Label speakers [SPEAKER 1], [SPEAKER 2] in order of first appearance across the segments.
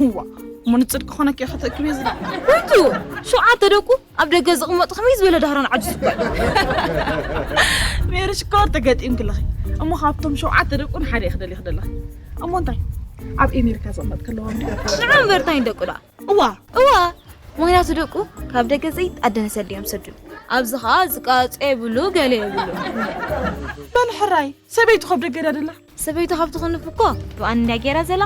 [SPEAKER 1] ህዋ እሞ ንጽድቂ ኮነኪ እያ ከተእክብየ ዝደቕና ወይቱ
[SPEAKER 2] ሸውዓተ ደቁ ኣብ ደገ ዝቕመጡ ከመይ ዝበለ ዳህሮን ዓጁዝ እኳ
[SPEAKER 1] ሜሪ ሽኮር ተገጢምኪ ኣለኺ እሞ ካብቶም ሸውዓተ ደቁ ንሓደ እየ ክደልየ ክደለኺ እሞ እንታይ ኣብ ኤሜሪካ ዝቕመጥ ከለዋ ንዓ እምበር እንታይ
[SPEAKER 2] ደቁ ደኣ እዋ እዋ
[SPEAKER 1] ምክንያቱ
[SPEAKER 2] ደቁ ካብ ደገ ዘይጣደነ ሰዲ እዮም ሰዱ ኣብዚ ከዓ ዝቃፀ የብሉ ገለ የብሉ በል
[SPEAKER 1] ሕራይ ሰበይቱ ከብ ደገ ደላ ሰበይቱ ካብ ትኽንፍ
[SPEAKER 2] እኮ ዱኣን እንድያ ጌራ ዘላ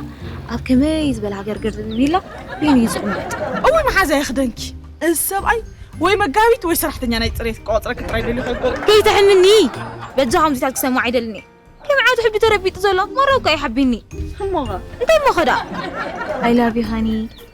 [SPEAKER 2] ኣብ ከመይ ዝበለ ሃገርገር ዝብል ኢላ በይኑ እዩ ዝቕመጥ እወ መሓዛ
[SPEAKER 1] ይኽደንኪ እዚ ሰብኣይ ወይ መጋቢት ወይ ሰራሕተኛ ናይ ፅሬት ቆፅረ ክጥራይ ደልዩ ከይኮን ከይትሕምኒ
[SPEAKER 2] በጃ ከምዚታት ክሰማዕ ኣይደልን እየ ከም ዓዱ ሕቢ ተረቢጡ ዘሎ መረብ እኳ ይሓቢኒ እሞኸ እንታይ
[SPEAKER 1] እሞኸ ደኣ
[SPEAKER 2] ኣይላቭ ዩ ሃኒ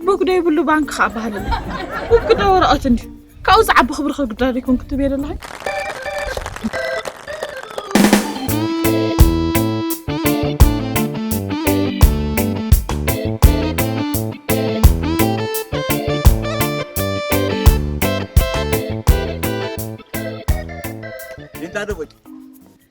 [SPEAKER 1] ቡክ ዶ ይብሉ ባንክ ከዓ ባህልና ቡክ ዶ ወረቐት እንዲ ካብኡ ዝዓቢ ክብሪ ከግዳር ይኮን ክትብ የለና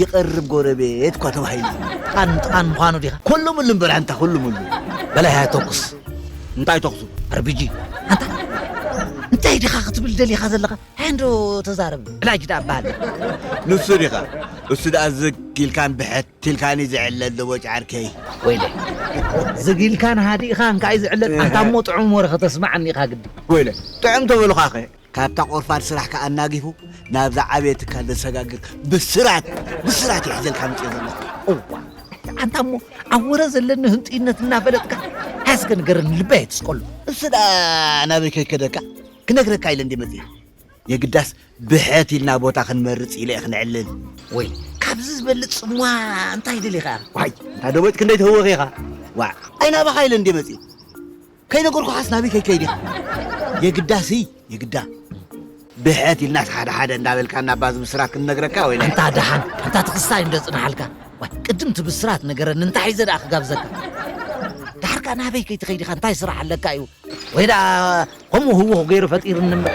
[SPEAKER 3] ይቐርብ ጎረቤት እኳ ተባሂሉ እዩ። ጥቓን ጥቓን ምዃኑ
[SPEAKER 4] ዲኻ? ኮሉምሉ እምበር ኣንታ
[SPEAKER 3] ኮሉምሉ። በል ሃየ
[SPEAKER 4] ተኩስ። እንታይ ተኹሱ?
[SPEAKER 3] ኣርቢጂ። ኣንታ
[SPEAKER 4] እንታይ ዲኻ ክትብል ደሊኻ ዘለኻ? ሃየ እንዶ ተዛረብ። ዕላጅ ደኣ በሃል። ንሱ ዲኻ?
[SPEAKER 3] እሱ ደኣ ዝግ ኢልካን ብሕት ኢልካን'ዩ ዝዕለል ደቦጭ ዓርከይ። ወይለ
[SPEAKER 4] ዝግ ኢልካን ሃዲእኻን ከኣ'ዩ ዝዕለል። ኣንታ እሞ ጥዑም ወረ ከተስመዓኒ ኢኻ ግዲ። ወይለ ጥዑም
[SPEAKER 3] ተበሉኻ'ኸ ካብታ ቆርፋድ ስራሕካ ኣናጊፉ ናብ ዝዓበየ ትካል ዘሰጋግር ብስራት ብስራት እየ ሒዘልካ ምፅኤ ዘለኹ። እዋ
[SPEAKER 4] ኣንታ እሞ ኣብ ወረ ዘለኒ ህንጡይነት እናፈለጥካ ሃስገ ንገረኒ ልበይ ኣይትስቀሉ። እሱ ደኣ
[SPEAKER 3] ናበይ ከይከደካ ክነግረካ ኢለ እንዴ መፅኤ የግዳስ ብሕት ኢልና ቦታ ክንመርፅ ኢለ እየ ክነዕልል። ወይ
[SPEAKER 4] ካብዚ ዝበልፅ ፅምዋ እንታይ ደሊኻ? ዋይ እንታ ደቦጭ ክንደይ
[SPEAKER 3] ትህወኽ ኢኻ ዋዕ ኣይናባኻ ኢለ እንዴ መፅኤ ከይነገርኩኻስ ናበይ ከይከይድ ኢኻ የግዳሲ የግዳ ብሕት ኢልናስ ሓደ ሓደ እንዳበልካ እናባ ዝብስራት ክንነግረካ ወይ እንታ ደሓን እንታ
[SPEAKER 4] ትኽስታይ እንደ ጽንሓልካ ዋይ ቅድም እቲ ብስራት ነገረኒ እንታይ ሒዘ ደኣ ክጋብዘካ ደሓር ከኣ ናበይ ከይትኸይድ ኢኻ እንታይ ስራሕ ኣለካ እዩ ወይ ደኣ ከምኡ ህውኽ ገይሩ ፈጢርኒ እምበር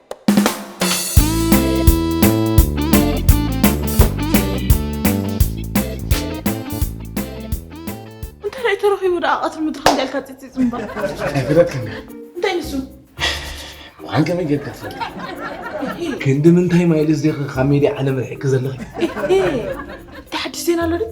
[SPEAKER 1] እንታይ ተረኺቡ ደኣ ቀትሪ ምድሪ ከምዚኣ ኢልካ ፂፂፅ እምበር ኣይግደክን
[SPEAKER 3] እንታይ ንሱ
[SPEAKER 1] ዋን
[SPEAKER 3] ከመይ ጌርካ ትፈልጥ ክንዲ ምንታይ ማይልስ ዲኺ ካብ ሜድያ ዓለም ርሒቂ ዘለኺ
[SPEAKER 1] እቲ ሓድሽ ዜና ኣሎ ድዩ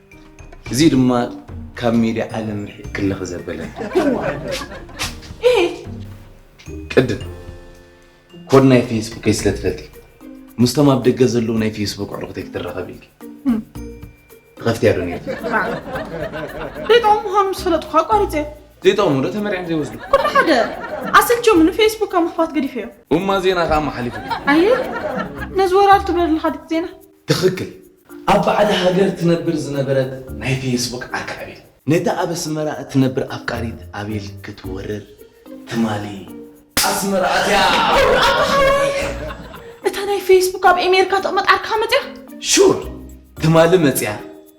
[SPEAKER 5] እዚ ድማ ካብ ሜድያ ዓለም ርሒቕ ክለኽ ዘበለን ቅድም ኮድ ናይ ፌስቡከይ ስለ ትፈልጢ ምስቶም ኣብ ደገ ዘለዉ ናይ ፌስቡክ ኣዕሩኽተይ ክትራኸብ ኢልኪ ትኸፍትያ ዶ ነርኪ
[SPEAKER 1] ደይጠቕሙ ምዃኑ ምስ ፈለጥኩ ኣቋሪፀ ዘይጠቕሙ ዶ ተመርዕም
[SPEAKER 5] ዘይወስዱ ኩሉ ሓደ
[SPEAKER 1] ኣሰልቸሙ ንፌስቡክ ካብ ምኽፋት ገዲፈዮ እማ ዜና ከዓ መሓሊፉ
[SPEAKER 5] ኣየ
[SPEAKER 1] ነዚ ወራር ትብሎ ዘለካ ድቲ ዜና ትኽክል
[SPEAKER 5] ኣብ ባዕዲ ሃገር ትነብር ዝነበረት ናይ ፌስቡክ ዓርኪ ኣቤል ነታ ኣብ ኣስመራ እትነብር ኣፍቃሪት ኣቤል ክትወርር ትማሊ ኣስመራ ኣትያ። ሑር ኣታ ሓወይ
[SPEAKER 1] እታ ናይ ፌስቡክ ኣብ ኤሜርካ ትቕመጥ ዓርክኻ መጽያ? ሹር
[SPEAKER 5] ትማሊ መጽያ።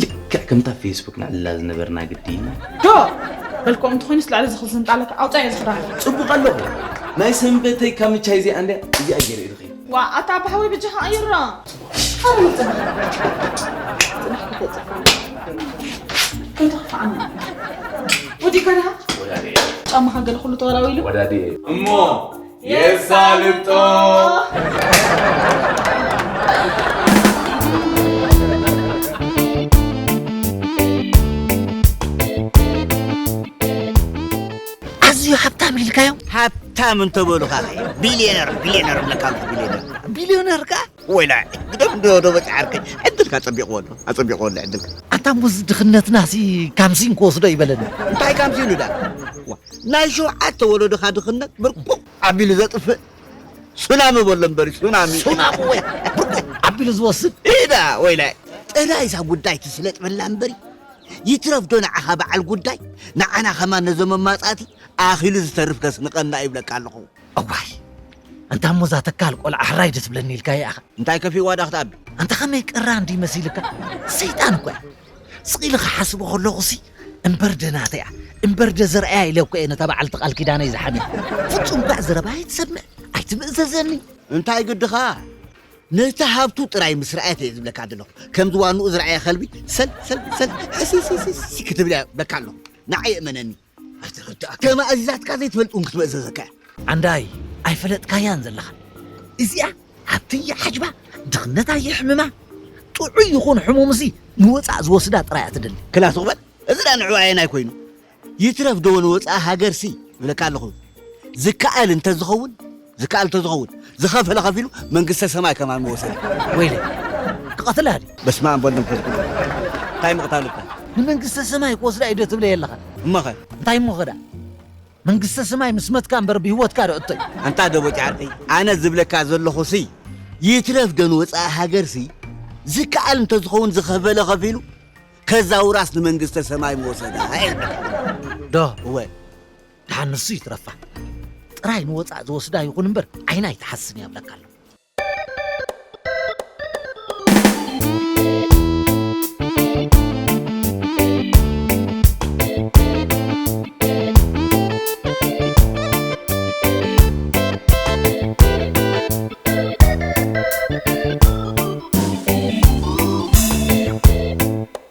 [SPEAKER 1] ልክዕ ከምታ
[SPEAKER 5] ፌስቡክ ንዕልላ ዝነበርና ግዲ ዶ
[SPEAKER 1] በልክኦም እንተኾይኑስ ልዕሊ ዝኽል ዝንጣለካ ኣውፃዮ ዝኽዳን ፅቡቕ ኣለኹ
[SPEAKER 5] ናይ ሰንበተይ ካብ ምቻይ እዚኣ እንድያ እዚኣ ገይረ እዩ ዝኸይድ ዋ ኣታ ባሕወይ
[SPEAKER 1] ብጃኻ ኣየራ ሓረም ከይተኽፍዓና ወዲእካ ዲኻ
[SPEAKER 5] ጫማኻ ገለ ኩሉ
[SPEAKER 1] ተወራዊሉ እሞ
[SPEAKER 5] የሳልጦ
[SPEAKER 4] ኣዝዩ ሃብታም ኢልካዮ ሃብታም
[SPEAKER 3] እንተበሉኻ ቢልዮነር ቢልዮነር ብለካ ኣሎ ቢልዮነር ቢልዮነር
[SPEAKER 4] ከ ወይላይ ግደፍ
[SPEAKER 3] እንዶ ዶ በጽዓርከይ ዕድልካ ኣጸቢቕዎ ኣሎ ኣጸቢቕዎ ኣሎ ዕድልካ ኣንታ ሙዝ
[SPEAKER 4] ድኽነትናሲ ካምሲን ክወስዶ ይበለኒ እንታይ ካምሲን እዳ
[SPEAKER 3] ዋ፣ ናይ ሸውዓተ ወለዶኻ ድኽነት ብርቁቕ ኣቢሉ ዘጥፍእ ሱናሚ በሎ እምበሪ ሱናሚ ሱናሚ ወይ
[SPEAKER 4] ብርቁቕ ኣቢሉ ዝወስድ ኢዳ ወይላይ
[SPEAKER 3] ጥራይ እዛ ጉዳይ ትስለጥ በላ እምበሪ ይትረፍ ዶ ንዓኻ በዓል ጉዳይ ንዓና ከማን ነዞም መማጻእቲ ኣኺሉ ዝተርፍ ከስንቐና ይብለካ ኣለኹ እዋይ
[SPEAKER 4] ኣንታ እሞ እዛ ተካል ቆልዓ ሕራይ ዶ ትብለኒ ኢልካ ይኣኻ እንታይ ከፊእዋ ዳኽ ትኣቢ
[SPEAKER 3] ኣንታ ከመይ ቅራን
[SPEAKER 4] ድዩ መሲልካ ሰይጣን እኮ እያ ስቕ ኢለ ክሓስቦ ከለኹሲ እምበር ደናተ እያ እምበር ደ ዘርኣያ ኢለ እኮ እየ ነታ በዓልቲ ቃል ኪዳነይ ዝሓምያ ፍጹም ባዕ ዘረባ ኣይትሰምዕ ኣይትምእዘዘኒ እንታይ
[SPEAKER 3] ግድኻ ነቲ ሃብቱ ጥራይ ምስ ረኣየት እየ ዝብለካ ዘለኹ ከምዚ ዋንኡ ዝረኣየ ከልቢ ሰል ሰል ሰል ሕስስስስ ክትብል እያ ዝብለካ ኣለኹ ንዓይ እመነኒ ኣይትርዳእ ከማ እዚዛትካ ዘይትፈልጥ እውን ክትመእዘዘካ እያ ዓንዳይ
[SPEAKER 4] ኣይፈለጥካያን ዘለኻ እዚኣ ሃብቲ ይሓጅባ ድኽነት ኣይሕምማ ጥዑይ ይኹን ሕሙም እዚ ንወፃእ ዝወስዳ ጥራይ እያ ትደሊ ክላ ትቕበል እዚ
[SPEAKER 3] ዳ ንዕኡ ኣየናይ ኮይኑ ይትረፍ ዶ ንወፃኢ ሃገርሲ ይብለካ ኣለኹ ዝከኣል እንተዝኸውን ዝከኣል እንተዝኸውን ዝኸፈለ ከፊሉ መንግስተ ሰማይ ከማን ምወሰደ። ወይለይ
[SPEAKER 4] ክቐትላ ድዩ? በስመኣብ ወወልድ ወመንፈስ ቅዱስ
[SPEAKER 3] እንታይ ምቕታል እኮ። ንመንግስተ ሰማይ
[SPEAKER 4] ክወስዳ እዩ ዶ ትብለይ ኣለኻ? እሞኸ? እንታይ
[SPEAKER 3] እሞኸ ደኣ
[SPEAKER 4] መንግስተ ሰማይ ምስ መትካ እምበር ብህይወትካ ዶ እቶይ። ኣንታ ደቦጭ ዓርከይ
[SPEAKER 3] ኣነ ዝብለካ ዘለኹሲ ይትረፍ ዶ ንወጻኢ ሃገርሲ ዝከኣል እንተዝኸውን ዝኸፈለ ከፊሉ ከዛውራስ ንመንግስተ ሰማይ ምወሰዳ እየ ዝብለካ።
[SPEAKER 4] ዶ እወ
[SPEAKER 3] ድሓን ንሱ
[SPEAKER 4] ይትረፋ ጥራይ ንወጻእ ዝወስዳ ይኹን እምበር ዓይና ኣይትሓስን እያ ብለካ ኣሎ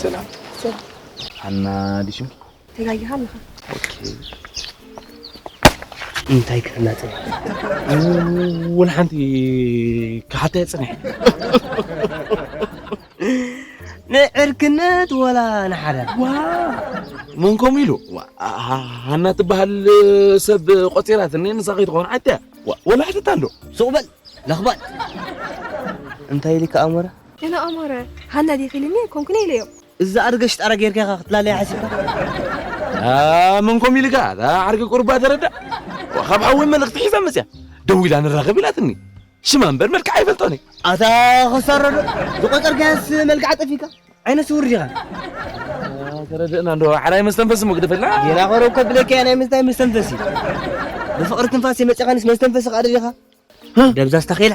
[SPEAKER 5] ሰላም ሃና ድዩ ስምኪ? ተጋጊኻ
[SPEAKER 1] ኣለኻ ኦኬ
[SPEAKER 6] እንታይ ክፍላጥ ወላ ሓንቲ ክሓተየ ፅኒሐ
[SPEAKER 7] ንዕርክነት ወላ ንሓደ
[SPEAKER 5] መን ከምኡ ኢሉ ሃና ትበሃል ሰብ ቆፂራትኒ ንሳ ከይትኸውን ዓዲ እያ ወላ ሕተት ኣሎ ሱቕ በል
[SPEAKER 3] ለኽባጥ
[SPEAKER 7] እንታይ ኢሊ ከዓ ኣሞረ ገና ኣሞረ
[SPEAKER 8] ሃና ዲኺ ኢልኒ ኮንኩነ ኢለዮ እዛ ኣድገሽ ጣራ
[SPEAKER 7] ጌርካ ኢኻ ክትላለያ ሓሲብካ መን
[SPEAKER 5] ከምኡ ኢሉ ከዓ ዓርኪ ቁርባ ተረዳእ ካብ ሓወይ መልእኽቲ ሒዛ መፅያ ደው ኢላ ንራኸብ ኢላትኒ ሽማ እምበር መልክዓ ይፈልጦን እዩ ኣታ ከሳረዶ
[SPEAKER 7] ዝቆፀርካዮስ መልክዓ ጠፊካ ዓይነ ስውር ዲኻ
[SPEAKER 5] ተረድእና እንዶ ሓራይ መስተንፈሲ እሞ ግደፈልና ጌና ከረብ ከብለካ እያ
[SPEAKER 7] ናይ ምንታይ መስተንፈሲ ብፍቕሪ ትንፋስ የመጨኻንስ መስተንፈሲ ካደ ዲኻ ደብዛዝ ተኺላ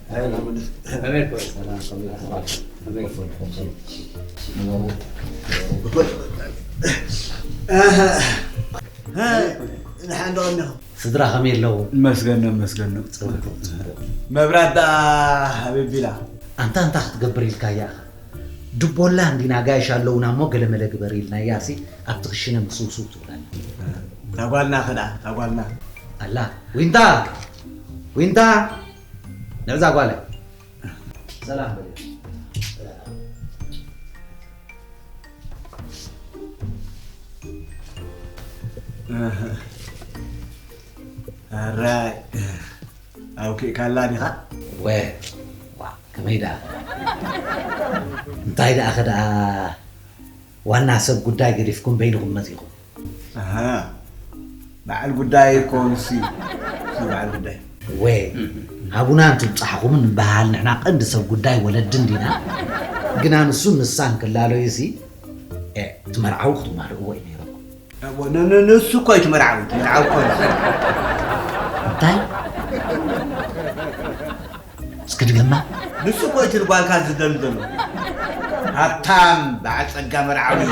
[SPEAKER 4] ስድራ ከመይ ኣለዉ? መስገን ዶ መስገን
[SPEAKER 6] ዶ መብራት ደኣ ኣበይ ኣቢላ? ኣንታ እንታይ
[SPEAKER 4] ክትገብር ኢልካያ ኢኻ? ድቦላ እንዲና ኣጋይሽ ኣለዉና እሞ ገለመለ ግበር ኢልናያሲ ኣብቲ ክሽነ ምስውስው ትብል ኣላ። እታ ጓልና
[SPEAKER 6] ከ ደኣ እታ ጓልና ኣላ
[SPEAKER 4] ዊንታ ዊንታ ንዕዛ ጓለይ ሰላም
[SPEAKER 6] በል ኣራይ ኣውኪእካላ ዲኻ ወ
[SPEAKER 4] ዋ ከመይ ደኣ እንታይ ደኣ ከደኣ ዋና ሰብ ጉዳይ ገዲፍኩም በይንኹም መጺኹም። ኣሃ
[SPEAKER 6] በዓል ጉዳይ እኮ ንሱ እዩ እቲ በዓል ጉዳይ። እወ
[SPEAKER 4] ናቡና እንትብጻሕኹም እንበሃል ንሕና ቀንዲ ሰብ ጉዳይ ወለዲ እንዲና። ግና ንሱን ንሳን ክላለዩሲ እቲ መርዓዊ ክትማልእዎ እዩ ነይሩኩም። ኣቦ ን- ን- ንሱ እኮ እዩ እቲ መርዓዊ
[SPEAKER 6] እቲ መርዓዊ እኮ ንሱ እንታይ
[SPEAKER 4] እስኪ ድገማ ንሱ እኮ እዩ እቲ
[SPEAKER 6] ንጓልካ ዝደሊ ዘሎ ሃብታም በዓል ጸጋ መርዓዊ እዩ።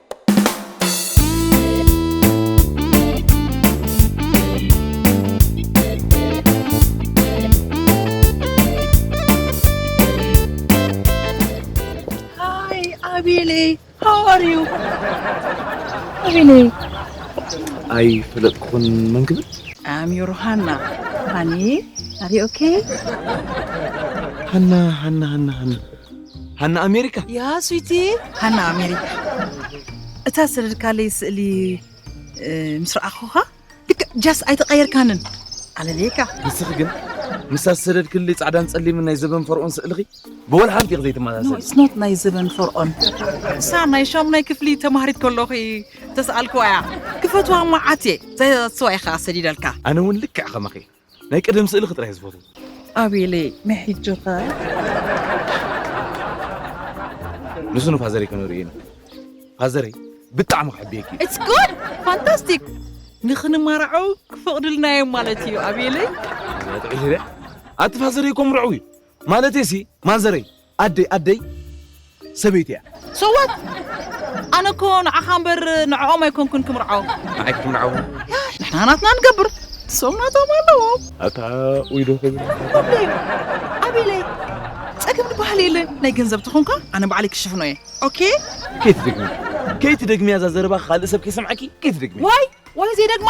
[SPEAKER 1] ኣይፈለጥኩን
[SPEAKER 5] መን ክብል ኣም ዩር ሃና
[SPEAKER 1] ሃኒ ኣሪ ኦኬ ሃና ሃና ሃና ሃና
[SPEAKER 5] ሃና ኣሜሪካ ያ ስዊቲ
[SPEAKER 1] ሃና ኣሜሪካ እታ ሰደድካለይ ስእሊ ምስ ረኣኹኻ ልክዕ ጃስ ኣይተቐየርካንን ኣለልየካ ንስኺ ግን
[SPEAKER 5] ምስታ ዝሰደድክሊ ፃዕዳን ፀሊምን ናይ ዘበን ፈርኦን ስእልኺ ብወላ ሓንቲ ኢኺ ዘይትመሳሰል ስኖት ናይ ዘበን
[SPEAKER 1] ፈርኦን እሳ ናይ ሻሙናይ ክፍሊ ተማሃሪት ከለኺ ተሰኣልክዋ እያ ክፈትዋ መዓት እየ ዛስዋ ኢኻ ሰዲደልካ ኣነ እውን ልክዕ ከማኺ
[SPEAKER 5] ናይ ቀደም ስእልኺ ጥራይ ዝፈትዎ። ኣቤለይ
[SPEAKER 1] ናይ ሕጂኸ?
[SPEAKER 5] ንሱ ንፋዘረይ ከነርእዮ ኢና። ፋዘረይ ብጣዕሚ ክሕብየኪ እዩ። ኢትስ ጉድ
[SPEAKER 1] ፋንታስቲክ ንክንማራዖ ክፈቕዱልና እዮም ማለት እዩ ኣቤለይ። እዛ ጥዑይ ሽረ
[SPEAKER 5] ኣቲ ፋዘረይ እኮ ምርዑው እዩ ማለተይሲ ማዘረይ ኣደይ ኣደይ ሰበይቲ እያ። So what?
[SPEAKER 1] ኣነ እኮ ንዓኻ እምበር ንዕኦም ኣይኮንኩን ክምርዖ። ንዓይ ክትምርዓው?
[SPEAKER 5] ንሕና ናትና
[SPEAKER 1] ንገብር፣ ንሶም ናቶም ኣለዎም። ኣታ ኡይ
[SPEAKER 5] ዶ ክብል ኣቤለይ ኣቤለይ
[SPEAKER 1] ጸገም ዝበሃል የለን ናይ ገንዘብ ተኾንካ ኣነ ባዕለይ ክሽፍኖ እየ ኦኬ ከይትደግሚ
[SPEAKER 5] ከይትደግሚ እዛ ዘረባ ካልእ ሰብ ከይሰምዓኪ ከይትደግሚ ዋይ ዋይ ዘይደግማ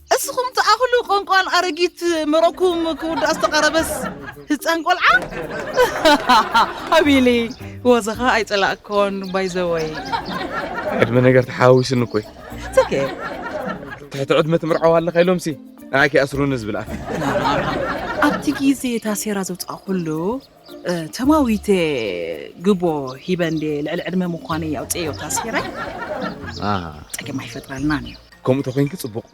[SPEAKER 1] እስኹም ትኣኽሉ ቆንቋል ኣረጊት መረቕኩም ክውዳእ ዝተቓረበስ ህፃን ቆልዓ ኣቢሊ ወዘኻ ኣይፀላእኮን ባይዘወይ ዕድመ
[SPEAKER 5] ነገር ተሓዋዊስኒ እኮ እዩ ትሕቲ ዕድመ ትምርዓው ኣለኻ ኢሎምሲ ንዓይ ከይኣስሩኒ ዝብል ኣፍ ኣብቲ
[SPEAKER 1] ግዜ ታሴራ ዘውፃእኹሉ ተማዊተ ግቦ ሂበ እንዴ ልዕሊ ዕድመ ምዃነይ ኣውፅኤዮ ታስኪረይ ፀገም ኣይፈጥረልናን እዩ ከምኡ ተኮይንኪ ፅቡቅ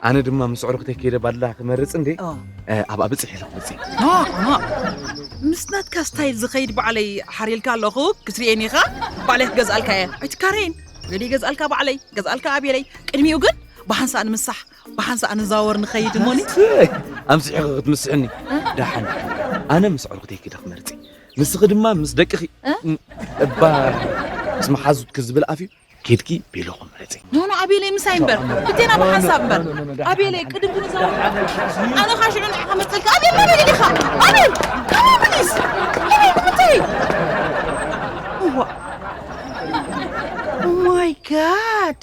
[SPEAKER 5] ኣነ ድማ ምስ ኣዕሩኽተይ ከይደ ባድላ ክመርፅ እንዴ ኣብኣ ብፅሕ ኢለ ክመፅእ ምስ
[SPEAKER 1] ናትካ ስታይል ዝኸይድ ባዕለይ ሓሪልካ ኣለኹ ክትርእየኒ ኢኻ ባዕለይ ክገዝኣልካ እየ ኣይትካረይን ገዲ ገዝኣልካ ባዕለይ ገዝኣልካ ኣብየለይ ቅድሚኡ ግን ብሃንሳእ ንምሳሕ ብሓንሳእ ንዛወር ንኸይድ እሞኒ ኣምሲሕኺ
[SPEAKER 5] ክትምስሕኒ ደሓን ኣነ ምስ ዕርኹተይ ክደ ክመርፂ ንስኺ ድማ ምስ ደቅኺ እባ ምስ መሓዙትኪ ዝብል ኣፍ እዩ ኬድኪ ቤሎኹ ምረፂ ኖኖ ኣቤለይ ምሳይ
[SPEAKER 1] እምበር ብቴና ብሓንሳብ እምበር ኣቤለይ ቅድም ክንዛወር ኣነ ካ ሽዑ ንዕኻ መፀልካ ኣቤል ኣቤል ኢኻ ኣቤል ከመብሊስ ኣቤል ኩተይ እዋ ማይ ጋድ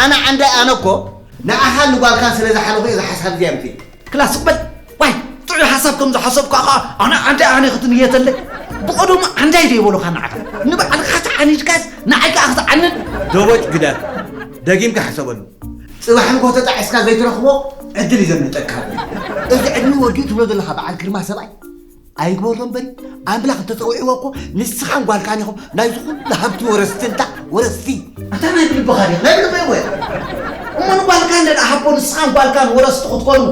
[SPEAKER 3] ኣነ ዓንዳይ ኣነ እኮ ንዓኻን ንጓልካን ስለ ዝሓለኹ እየ እዛ ሓሳብ እዚኣ ኣምጺኤ። ክላ ስቕ በል
[SPEAKER 4] ዋይ ጥዑይ ሓሳብ ከም ዝሓሰብካ ኸኣ ኣነ ዓንዳይ ኣነ ክትንየተለይ ብቐደሙ ዓንዳይ ዶ ይበሉኻ ንዓኻ ንባዕልኻ ተዓኒድካስ ንዓይ ከኣ ክትዓንድ ደቦጭ ግደፍ
[SPEAKER 3] ደጊምካ ሕሰበሉ። ጽባሕ ንግሆ ተጣዒስካ ዘይትረኽቦ ዕድል እዩ ዘምልጠካ። እዚ ዕድሚኡ ወዲኡ ትብሎ ዘለኻ በዓል ግርማ ሰብኣይ ኣይግበሮ እምበሪ ኣምላኽ እንተፀዊዕዎ እኮ ንስኻን ጓልካን ኢኹም ናይ ዝኹሉ ሃብቲ ወረስቲ እንታ ወረስቲ ኣታ ናይ ብልብኻ ዲኻ ናይ ብልበይ ወ እሞ
[SPEAKER 4] ንጓልካ እንደ ሃቦ ንስኻን ጓልካን ወረስቲ ክትኮኑ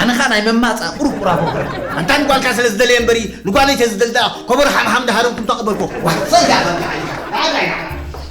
[SPEAKER 4] ኣነ ከዓ ናይ መማፃ ቁርቁራ ቦኽረ ኣንታ ንጓልካ ስለ
[SPEAKER 3] ዝደልየ እምበሪ ንጓለይ ተዝደልዳ ኮቦር ሓምሓም ዳሃረምኩም ተቐበልኩ ዋይ ፅርግያ ከምካ ሓሊካ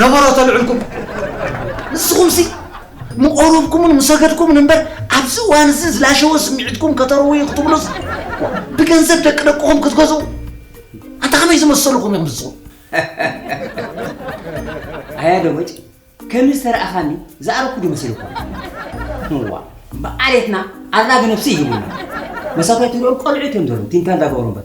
[SPEAKER 7] ነበሮ ተልዕልኩም
[SPEAKER 4] ንስኹምሲ ምቑሩብኩምን ምሰገድኩምን እምበር ኣብዚ እዋን እዚ ዝላሸወ ስምዒትኩም ከተርውዩ ክትብሉስ ብገንዘብ ደቂ ደቅኹም ክትገዝኡ ኣንታ ከመይ ዝመሰልኹም ኢኹም ንስኹም
[SPEAKER 7] ኣያ ደሞጭ ከም ዝተረኣኻኒ ዝኣረኩ ዶ መሲልኩ እዋ ብዓሌትና ኣራግ ነብሲ ይህቡና መሳቶም ትሪኦም ቆልዑ እዮም ዘለዉ ቲንታ እንዳገበሩ እምበር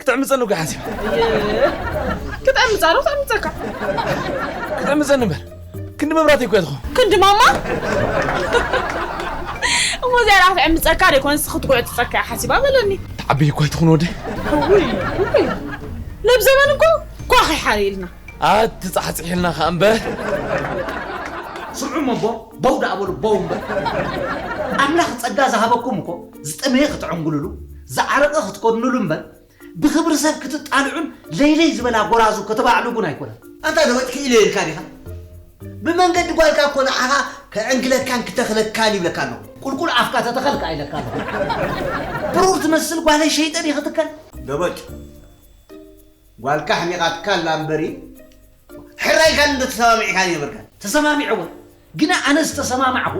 [SPEAKER 5] ክትዕምፀኒ እኮ ሓሲብ
[SPEAKER 1] ክጠምፃ ዶ ክጠምፀካ
[SPEAKER 5] ክትዕምፀኒ እምበር ክንዲ መብራህቲ እኮ እያ ትኸውን ክንዲ ማማ
[SPEAKER 1] እሞ እዚኣ ደኣ ክትዕምፀካ ዶ ይኮንስ ክትጉዕፅፀካ እያ ሓሲባ በለኒ ትዓብይ እኮ ኣይትኹን ወዲ
[SPEAKER 5] ውይ
[SPEAKER 1] ውይ ነብ ዘመን እኮ ኳኺ ሓሪልና ኣትፃሕፅሒልና
[SPEAKER 5] ከዓ እምበር
[SPEAKER 4] ስምዑ እሞ ቦው ደኣ በሉ ቦው እምበር ኣምላኽ ጸጋ ዝሃበኩም እኮ ዝጠመየ ክትዕንግሉሉ፣ ዝዓረቐ ክትኮድኑሉ እምበር፣ ብኽብሪ ሰብ ክትጣልዑን ለይለይ ዝበላ ጎራዙ ከተባዕልጉን ኣይኮነን። ኣንታ ለውጥ ክኢለ
[SPEAKER 3] ኢልካ ዲኻ? ብመንገዲ ጓልካ እኮ ንዓኻ ክዕንግለካን ክተኽለካን ይብለካ ኣለኹ። ቁልቁል ኣፍካ ተተኸል
[SPEAKER 4] ከኣ ኢለካ ኣለኹ። ብሩር ትመስል ጓለይ ሸይጠ ድየ ክትከል? ደበጭ!
[SPEAKER 3] ጓልካ ኣሕሚቓትካ ኣላ እምበሪ፣ ሕራይ ኢልካኒ ዶ ተሰማሚዕ ኢልካኒ ነበርካ? ተሰማሚዐ እወ
[SPEAKER 4] ግና ኣነ ዝተሰማማዕኹ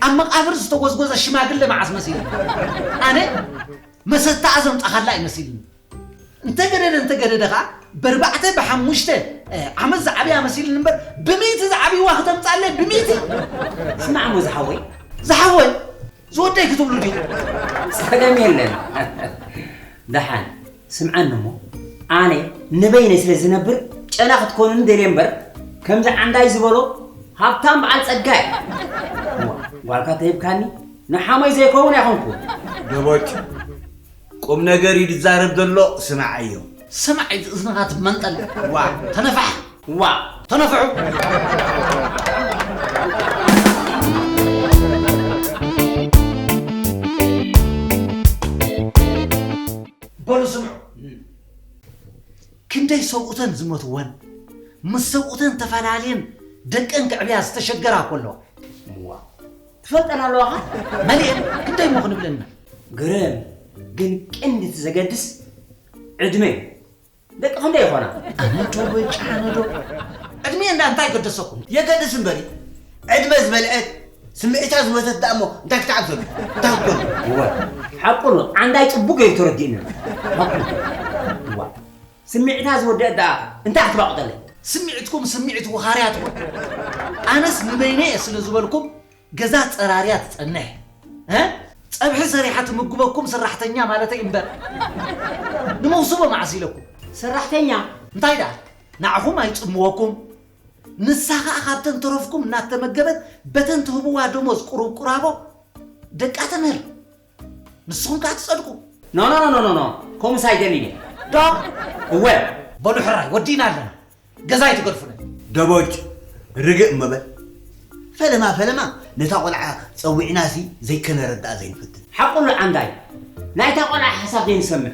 [SPEAKER 4] ኣብ መቃብር ዝተጎዝጎዘ ሽማግለ መዓስ መሲልኒ ኣነ መሰታኣ ዘምጻኻላ እዩ መሲልኒ እንተገደደ እንተገደደ ከኣ በርባዕተ ብሓሙሽተ ዓመት ዝዓብያ መሲልኒ እምበር ብሚእቲ ዝዓብይዋ ክተምጻለይ ብሚእቲ ስማዕ እሞ
[SPEAKER 7] ዝሓወይ ዝሓወይ
[SPEAKER 4] ዝወደይ ክትብሉ ዲኹም ጸገም
[SPEAKER 7] የለን ደሓን ስምዓኒ እሞ ኣነ ንበይነይ ስለ ዝነብር ጨና ክትኮኑኒ ደልየ እምበር ከምዚ ዓንዳይ ዝበሎ ሃብታም በዓል ጸጋ እየ። እዋ ጓልካ ተሂብካኒ ንሓሞይ ዘይከውን ኣይኮንኩን። ደቦጭ
[SPEAKER 3] ቁም ነገር እዩ ዝዛረብ ዘሎ ስምዓዮ። ስማዕ ኢቲ እዝንኻ
[SPEAKER 4] ትመንጠል ዋእ ተነፋሕ።
[SPEAKER 3] ዋእ
[SPEAKER 4] ተነፍሑ። በሉ ስምዑ ክንደይ ሰብኡተን ዝመትወን ምስ ሰብኡተን ተፈላለየን ደቀን ክዕብያ ዝተሸገራ እኮ ኣለዋ እዋ
[SPEAKER 7] ትፈልጠን ኣለዋኻ መሊኤን ክንደይ
[SPEAKER 4] እሞ ክንብለና ግርም
[SPEAKER 7] ግን ቅንዲ እቲ ዘገድስ ዕድመ እዩ ደቂ ክንደይ ይኾና? ኣነዶ በጃ
[SPEAKER 4] ኣነዶ ዕድሜ እንዳ እንታይ ገደሰኩም? የገድስ እምበሪ
[SPEAKER 3] ዕድመ ዝበልዐት ስምዒታ ዝወተት ደኣ እሞ እንታይ ክትዓብሰሉ እንታይ ክትኮኑ? እወ
[SPEAKER 7] ሓቁ ነው ዓንዳይ ጽቡቅ ገይሩ ተረዲኡኒ ሓቁ እዋ ስምዒታ ዝወደአት ደኣ እንታይ ክትባቁጠለይ? ስምዒትኩም ስምዒት
[SPEAKER 4] ወኻርያ ትኹን ኣነስ ንበይነይ እየ ስለ ዝበልኩም ገዛ ጸራርያ ትጸንሕ እ ጸብሒ ሰሪሓ ትምግበኩም ስራሕተኛ ማለተይ እምበር ንመውስቦ መዓስ ኢለኩም ሰራሕተኛ
[SPEAKER 7] እንታይ ደኣ
[SPEAKER 4] ንዓኹም ኣይጽምወኩም ንሳ ከኣ ካብተን ተረፍኩም እናተመገበት በተን ትህብዋ ደሞዝ ቁሩብ ቁራቦ ደቃ ተምህር ንስኹም ከኣ ትጸድቁ። ኖኖኖኖኖ
[SPEAKER 7] ኮምስ ኣይደሊን እየ። ዶ
[SPEAKER 4] እወ።
[SPEAKER 7] በሉ ሕራይ
[SPEAKER 4] ወዲእና ኣለና ገዛ ኣይትገድፉለይ። ደቦጭ
[SPEAKER 3] ርግእ እሞ በል ፈለማ ፈለማ ነታ ቆልዓ ጸዊዕናሲ ዘይከነረድኣ ዘይንፈትን። ሓቁ ኣሎ ዓንዳይ
[SPEAKER 7] ናይታ ቆልዓ ሓሳብ ዘይንሰምዕ።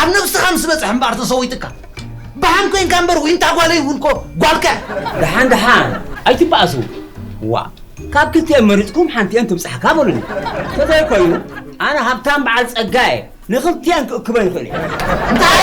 [SPEAKER 4] ኣብ ነብስኻ ምስ በጽሐ እምበኣር ተሰዊትካ ብሓን ኮንካ እምበር ዊንታ ጓለይ እውን እኮ ጓልካ እያ። ደሓን ደሓን
[SPEAKER 7] ኣይትበኣሱ ዋእ ካብ ክልቲኤን መሪጽኩም ሓንቲኤን ትብጻሕካ በሉኒ ተዘይኮይኑ ኣነ ሃብታም በዓል ጸጋ እየ ንኽልቲኤን ክእክበን ይኽእል እየ እንታይ